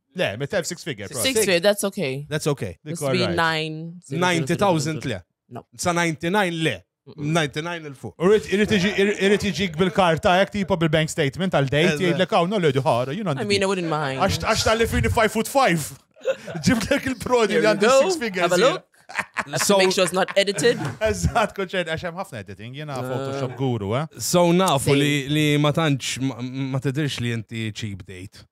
Le, me telf six figure. Six figure, that's okay. That's okay. That's right. 90,000 le. No. Sa 99 le. 99 il-fuq. Irrit iġik bil-karta, jek tipo bil-bank statement għal-dejt, jgħidlek għaw, no le duħara, you know. I mean, I wouldn't mind. Għax tal-li fini 5 foot 5. Ġibdek il-prodi li għandu 6 figures. Have a look. So make sure it's not edited. Eżatt, konċern, għax hemm ħafna editing, jiena uh, Photoshop guru, eh. So nafu li ma tantx ma tidirx li inti cheap date.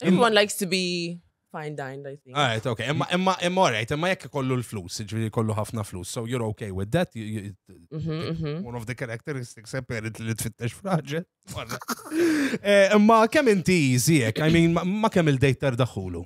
Everyone likes to be fine dined, I think. Alright, okay. Imma imma imma alright, imma jekk kollu l-flus, ġifieri kollu ħafna flus. So you're okay with that. You, you, mhm, mhm. One of the characteristics apparent li tfittex fraġel. Eh, imma kemm inti ziek, I mean, ma kemm il-dejter daħulu.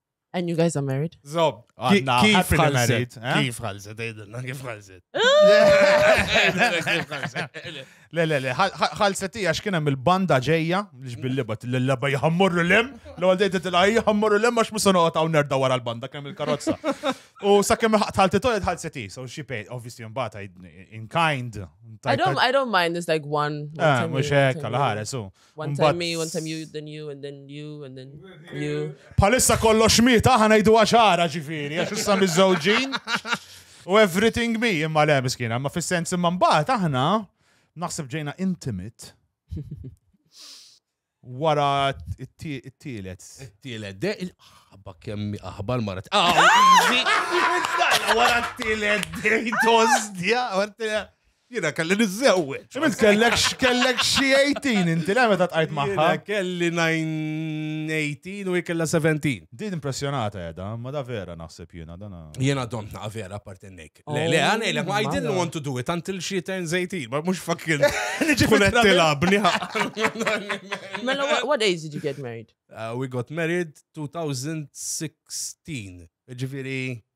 And you guys are married? Zob, għanna, kif married. Eh? Kif ħalset, għidilna, kif ħalset. Le, le, le, ħalset ija xkien hemm il-banda ġejja, li bil-libat, l-laba jħammurru l-em, l għal dejta t-la jħammurru l-em, għax musa noqgħod hawn nerda wara l-banda kemm il-karozza. U sa kemm ħalti toqgħod ħalset hi, so she paid, obviously mbagħad in kind. I don't, I don't mind, it's like one. Eh, mhux hekk, għal ħares, One time me, one time you, then you, and then you, and then you. Palissa kollox mi, taħna jdu għaxara ġifiri, għax issa mizzawġin. U everything me, imma le, miskina, ma fil-sens imma mbaħt, aħna, naħseb ġejna intimate. Wara it-tielet. It-tielet, de, ħabba kemmi aħbar marat. Ah, wara t-tielet, de, tozdja, wara t-tielet. Jiena kelli niżżewweġ. Int kellek kellek xi 18 inti le meta tqajt magħha. Kelli 18 u kellha 17. Din impressjonata qiegħda, ma da vera naħseb jiena dan. Jiena domt naqa' vera apparti nik. Le le oh, għanejlek ma I didn't want to do it until she turns 18, ma mhux fucking tkun qed tilabni. Mela what age did you get married? Uh, we got married 2016. Ġifieri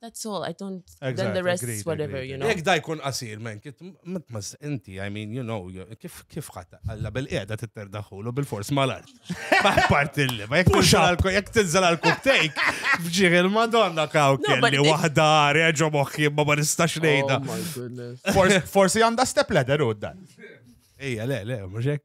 That's all, I don't, exactly, then the rest agreed, is whatever, agreed. you know. Jek da jkun qasir, men, mitmas inti, I mean, you know, kif kif ħatta, għalla bil-qeda t-terdaħulu bil-fors mal-art. Maħpart illi, ma jek jek tinżal għal-kubtejk, bġiħ il-madonna kaw kelli wahda reġo moħħi ma ma nistax oh nejda. Forsi għanda step ladder u dan. Ija, le, le, muxek.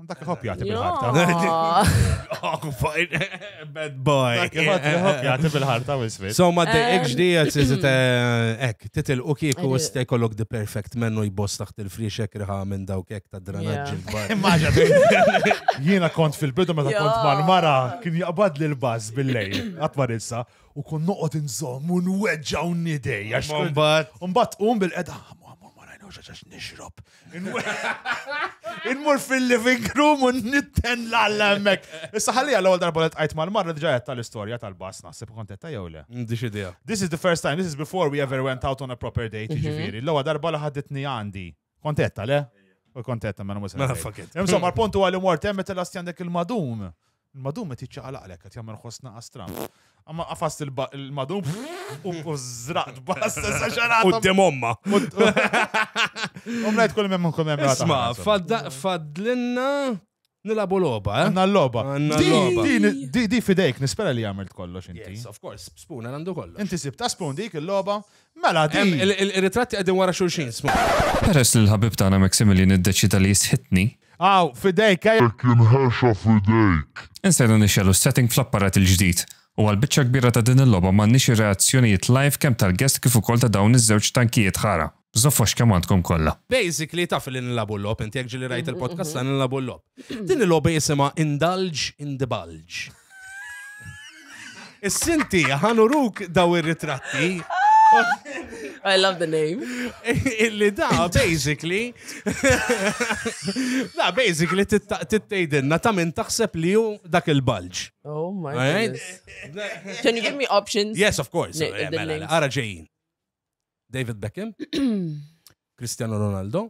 Dak iħobb jagħti bil-ħarta. Bad boy. Dak iħobb jagħti bil-ħarta u isfit. So ma dejqek ġdija tiżit hekk, titilqu kieku sta jkollok the perfect mennu jboss taħt il-friexek riħa minn dawk hekk ta' dranaġġi l-bar. Jiena kont fil-bidu meta kont mal-mara kien jaqbad li l-baż bil-lejl, għatmar issa, u kun noqgħod inżomm u nweġġaw nidej. Mbagħad. Mbagħad qum bil-qeda, ah, ma marajna xaxax nixrob. Inmur fil-living room u nitten l-alla emmek. Issa ħalli għal għol darba l-tqajt mal-marra ġajet tal-istoria tal-bas naħseb kontetta jew le. Mm, dix idea. This is the first time, this is before we ever went out on a proper date, mhm. ġifiri. L-għol darba li ħadditni għandi. Kontetta le? U kontetta ma mela, mela, nagħmel. Insomma, l-pontu għal-imort, emmet l-astjan dek il-madum. Il-madum qed jiċċaqalaqlek qed jagħmel ħoss naqas tram. Amma qafast il-madum u żraqt bas sa xarata. Quddiem omma. Omma qed kull hemm kull hemm. Isma' fadlinna nilabu loba, eh? Għanna loba. Għanna loba. Di fidejk, nispera li għamilt kollox inti. Yes, of course, spoon għandu kollox. Inti sib ta' spoon dik il-loba, Mela, di. Il-ritratti qegħdin wara xulxin, smu. Peress li l-ħabib tagħna Maximilian iddeċida li jistħitni. Aw, fidejk, ejja. Hekk inħexa f'idejk. Insejna nixegħlu s-setting fl-apparat il-ġdid. U għall-biċċa kbira ta' din il-logħba m'għandniex ir-reazzjonijiet live kemm tal-guest kif ukoll ta' dawn iż-żewġ tankijiet ħara. Żoffox kemm għandkom kollha. Basically taf li nilagħbu l-logħob inti jekk ġieli rajt il-podcast tagħna nilagħbu l-logħob. Din il-logħba jisimha Indulge in the Bulge. Is-sinti ħanuruk daw ir-ritratti. I love the name. Illi da, basically. da, basically, tittejdinna ta' minn taħseb li ju dak il-bulge. Oh my god. Can you give me options? Yes, of course. Eh, mela, mela, ara ġejjin. David Beckham, Cristiano Ronaldo,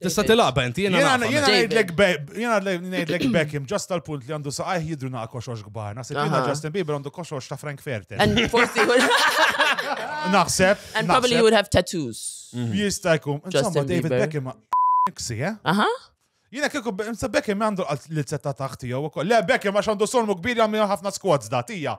Tista' tilaqba inti jiena. Jiena ngħidlek jiena ngħidlek Beckham ġast tal-punt li għandu saqajh jidru naqa' koxox kbar. Naħseb jiena Justin Bieber għandu koxox ta' Frank Ferter. Forsi Naħseb. And probably you would have tattoos. Mhm. Jista' jkun. Insomma David Beckham Niksi, eh? Aha. Jina kieku Beckham għandu l-setta taħti jew ukoll. Le Beckham għax għandu solmu kbir jagħmel ħafna squads da tija.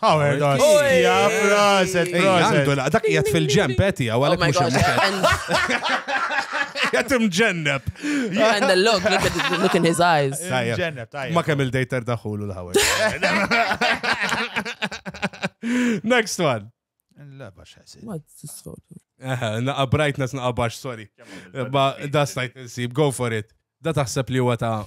Howard Garcia, proset, proset. Dak jgħat fil-ġem, peti, għaw għalek mux Jgħat imġenneb. And the look, look at the look in his eyes. Imġenneb, tajja. Ma kemm il-dejter daħulu l-Howard. Next one. La bax ħasib. Ma t-sfotu. Naqa brightness, naqa bax, sorry. Ba da stajt nsib, go for it. Da taħseb li huwa ta'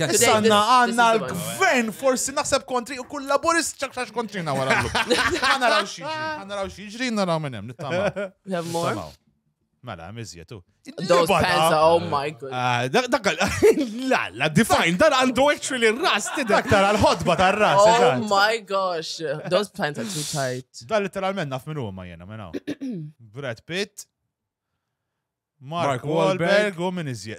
Issa għanna għanna l-gvern forsi naħseb kontri u kull laburist ċakċax kontrina wara l-lum. Għanna raw xieġri, għanna raw xieġri, għanna raw minnem, nittama. Mela, mizjetu. Those pants are, oh my god. Ah, dak, la, la, define, dan għandu actually r-ras, tidek tara l-ħodba ta' ras Oh my gosh, those pants are too tight. Dan literalment naf minn huma jena, minn Brad Pitt, Mark Wahlberg u min iżjed.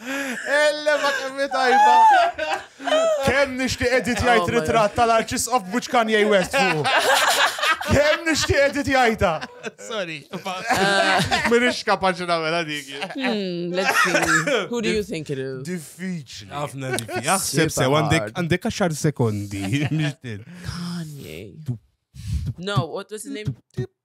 Ellema kemm tajba. Kemm nixtieq edit oh jgħid ritratt tal-arċis of which kan jgħid West Kemm nixtieq edit jgħidha. Sorry. Minix kapaċi nagħmel dik. Hmm, let's see. Who do you think it is? Diffiċli. Ħafna diffiċli. Aħseb se għandek għaxar sekondi. Kanye. No, what was his name?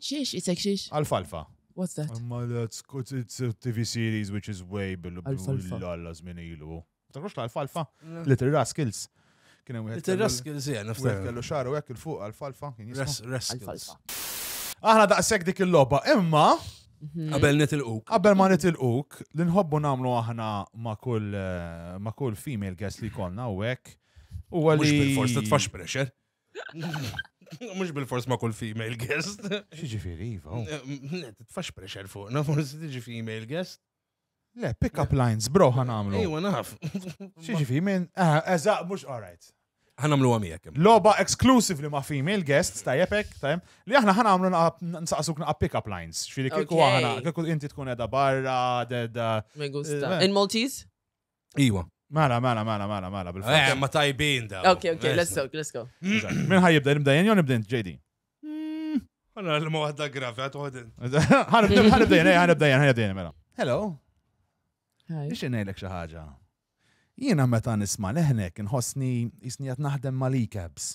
Xiex, isek xiex? Alfalfa. What's that? Imma that's good, it's a TV series which is way bil Alfalfa. l-alla żmien ilu. Takrux l-alfalfa? Little Rascals. Kien hemm wieħed kellu- Il-Raskil zija, wieħed niftaħ. kellu xaru hekk il fuq alfalfa kien jismu. Raskils. Aħna daqshekk dik il-logħba, imma Qabel nitilquk. qabel ma nitilquk li nħobbu nagħmlu aħna ma' kull eh, ma' kull female guest li konna u hekk huwa Mux li bil-fors titfax pressure. Mux bil-fors ma' kull female guest. Xieġifiri, Iva. oh. Le, titfax pressure fuqna, forsi tiġi female guest. Le, pick up lines, bro, ħan għamlu. Ejwa, naf. Xieġifiri, minn, ah, eżaq, mux, all right. Ħanamlu għamijek. Loba exclusively ma' female guests, tajjeb hekk, tajjeb, li aħna ħana għamlu naqa- nsaqsuk naqa' pick-up lines. Xfiri kieku Okay. aħna, kieku inti tkun edha barra, dedha. Me gusta. Eh, In Maltese? Iwa. Mela, mela, mela, mela, mela, bil Eh, ma tajbin da. Ok, ok, let's go, let's go. Min ħaj jibda, nibda jen, nibda jen, JD. Għana hmm. l-ma għadda gravi, għat għodin. Għanibda jen, għanibda jen, għanibda jen, mela. Hello. Ix nejlek xaħġa. Jiena meta nisma leħnek nħossni jisni għat naħdem ma' l-cabs.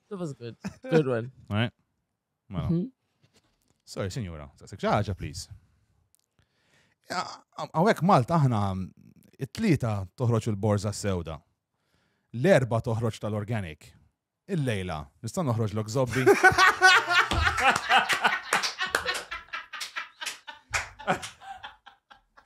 That was good. Good one. Right? Mela. Mhm. Sorry, sinjura, saqsik xi ħaġa, please. Ja, Hawnhekk Malta aħna it-tlieta toħroġ il-borża sewda. L-erba toħroġ tal-organic. Il-lejla, nista' noħroġ lok zobbi.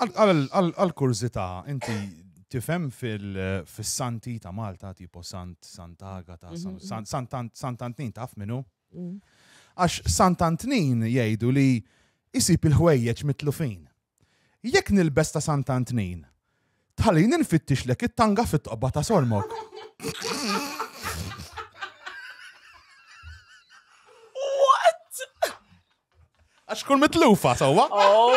Għal-kurzita, inti tifem fil-santi ta' Malta, tipo Sant Santaga ta' mhm. Sant Antnin taf minu? Mm. Għax Sant Antnin jgħidu li jisib il-ħwejjeġ mitlufin. Jekk nilbes ta' Sant Antnin, Tħallini nfittixlek it-tanga fit-toqba ta' sormok. Għax kull mitlufa, sawa? Oh.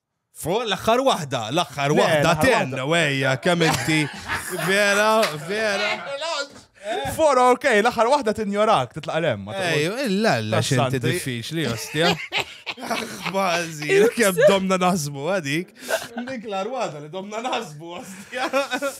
Fuq l-aħħar waħda, l-aħħar waħda ten, wejja, kemm inti. Vera, vera. For ok, l-aħħar waħda tinjorak, titlaq lem. Ejju, illa illa xinti diffiċli, ostja. Bazi, kem domna naħsbu għadik. Dik l-arwada li domna naħsbu, ostja.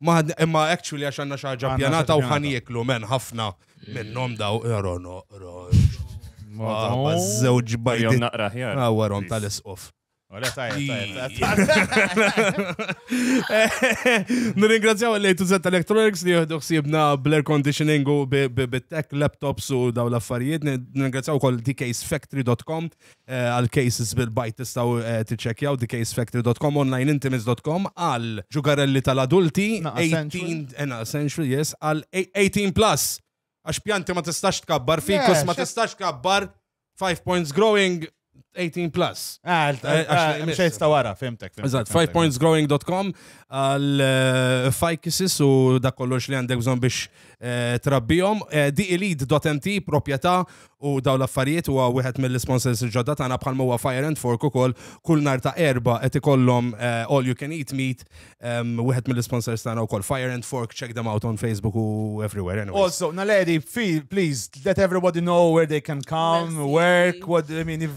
Ma ħadni, imma actually għax għanna xaġa Għandna pjanata u xaġa ħan pjanata. jeklu men ħafna minnom daw. Ero, no, ero. Madonna. Żewġ Jom bajdi. naqra ħjar. Ah, warom tal-isqof. Ora tajjeb, tajjeb, tajjeb. Nirringrazzjaw li tu zetta Electronics li jihdu xsibna bl-air conditioning u bi- bi- bit-tech, laptops u daw l-affarijiet. Nirringrazzjaw kol dksfactory.com eh, għal cases bil-bajt tistaw eh, tiċċekjaw di casefactory.com online intimis.com għal ġugarelli tal-adulti 18 ena essential yes għal 18 plus għax pjanti ma tistax tkabbar fikus ma tistax tkabbar 5 points growing 18 plus. Ah, eh, eh, mux jista wara, fimtek. Eżat, 5pointsgrowing.com għal eh, fajkisis u da kollox li għandek bżon biex Eh, trabbihom. Eh, DELEAD.mt, proprjetà u daw l-affarijiet huwa wieħed mill-sponsors il-ġodda tagħna bħal huwa Fire and Fork ukoll kull nar ta' erba qed ikollhom eh, all you can eat meat ehm, wieħed mill-sponsors tagħna wkoll Fire and Fork check them out on Facebook u everywhere anyway. Also, Naledi, please let everybody know where they can come, work, what I mean if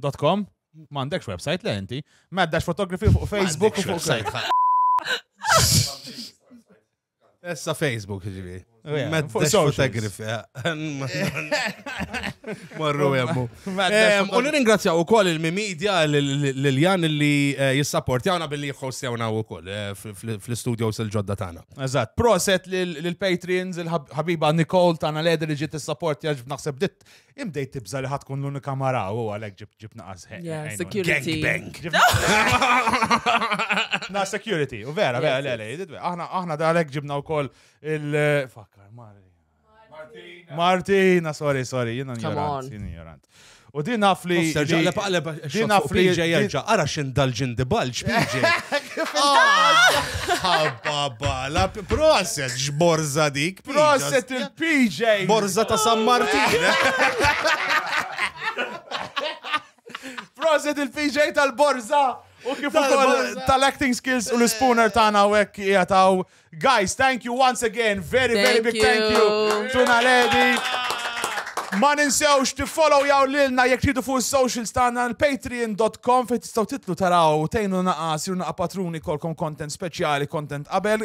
Dot com? M'għandekx website le inti. Maddax fotografi fuq Facebook u fuq sajt. Essa Facebook ġivi. Maddax fotografi. Marru jemmu. U nirringrazzjaw u koll il-mimidja l-Jan li eh, jissapportjawna billi jħostjawna u koll eh, fl-studios il-ġodda tana. Eżat, proset l-patrons, il-ħabiba Nicole tana l-edi li ġiet s-sapportja ġbnaħseb dit Imdej tibza li ħatkun l-unika mara u għalek ġib ġib naqas Yeah, security. Gangbang. Na security, u vera, vera, le, le, jididwe. Aħna, aħna da għalek ġibna u koll il... Fakkar, Mari. Martina, sorry, sorry, jina Come on. ignorant, jina ignorant. U din naf li... Serġa, li- qaleb din xokku naf li... PJ jerġa, ara xin dal-ġin di balġ, PJ. Ħabba bala, proset, ġborza dik. Proset il-PJ! Borza ta' San Martin! Proset il-PJ tal-Borza! U kif ukoll tal-acting skills u l-spooner tagħna u hekk jataw. Guys, thank you once again. Very, very big thank you. Tuna Lady. Ma ninsewx tiffollow jaw lilna jekk tridu fuq is-socials tagħna l-patreon.com fejn tistgħu titlu taraw tejnu naqa' siru naqa' patruni kolkom content speċjali, content qabel